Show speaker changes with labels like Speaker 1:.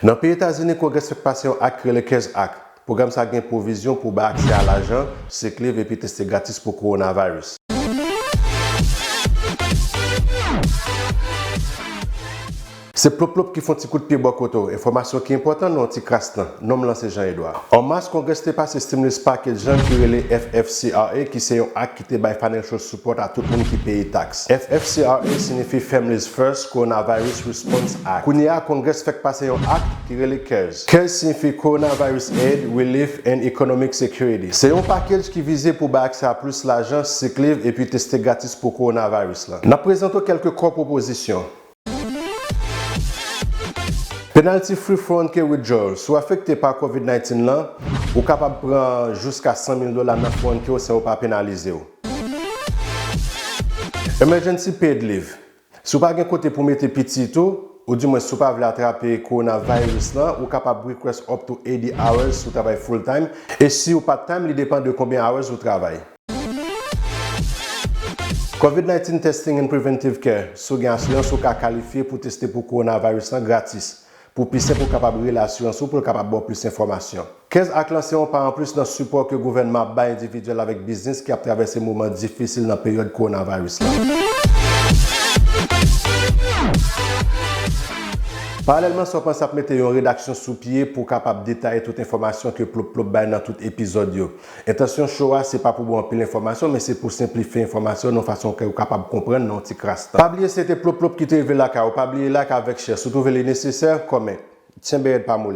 Speaker 1: Nan peyi Etazini, Kongres fèk pase yon ak ki rele CARES Act. Pwogram sa gen pwovizyon pou bay aksè a lajan, sick leave epi teste gratis pou kowonaviris. Se plop plop ki fon ti kout pye bò kote w, enfòmasyon ki enpòtan nan yon ti kras tan. Non m lan se Jean Edouard. An mas, Kongres te pase stimulus package lan ki rele FFCRA ki se yon ak te bay financial support a tout moun ki peye tax. FFCRA sinifi Families First Coronavirus Response Act. Kounye a Congress fèk pase yon act ki rele cares. Cares sinifi Coronavirus Aid, Relief, and Economic Security. Se yon package ki vize pou bay aksè a plis lajan, sick leave, epi teste gratis pou coronavirus la. Nap prezante w kelke core pwopozisyon. Penalty Free Phone Key Withdrawal Si w afekte pa Covid 19 lan, ou kapab pran jiska 100 mil dola nan phone key w san yo pa penalize w. Emergency Paid Leave Si w pa gen kote pou w mete pitit ou, ou di mwens si w pa vle atrape coronavirus lan, ou kapab request up to 80 hours si w travay full-time, e si w part-time li depan de konbyen hours ou travay. Covid 19 Testing and Preventive Care, Si w gen asirans ou ka kalifye pou teste pou kowonaviris lan gratis. Pou pi senp ou kapab rele asirans ou pou l kapab ba w plis enfòmasyon. Kez ak lan se yon pa anplis nan sipò ke gouvènman ap bay endividyèl avèk biznis ki ap travèse moman difisil nan peryòd kowonaviris lan. Paralèlman sa w panse ap mete yon redaksyon sou pye pou w kapab detaye tout enfòmasyon ke Plop Plop bay nan tout epizòd yo. Entansyon show a se pa pou ba w anpil enfòmasyon men se pou senplifye enfòmasyon nan yon fason kè ou kapab konprann nan yon ti kras tan. Pa bliye se te Plop Plop ki te rive lakay ou pa bliye like avèk share si w twouve li nesesè comment. Tyenbeyèd pa moli.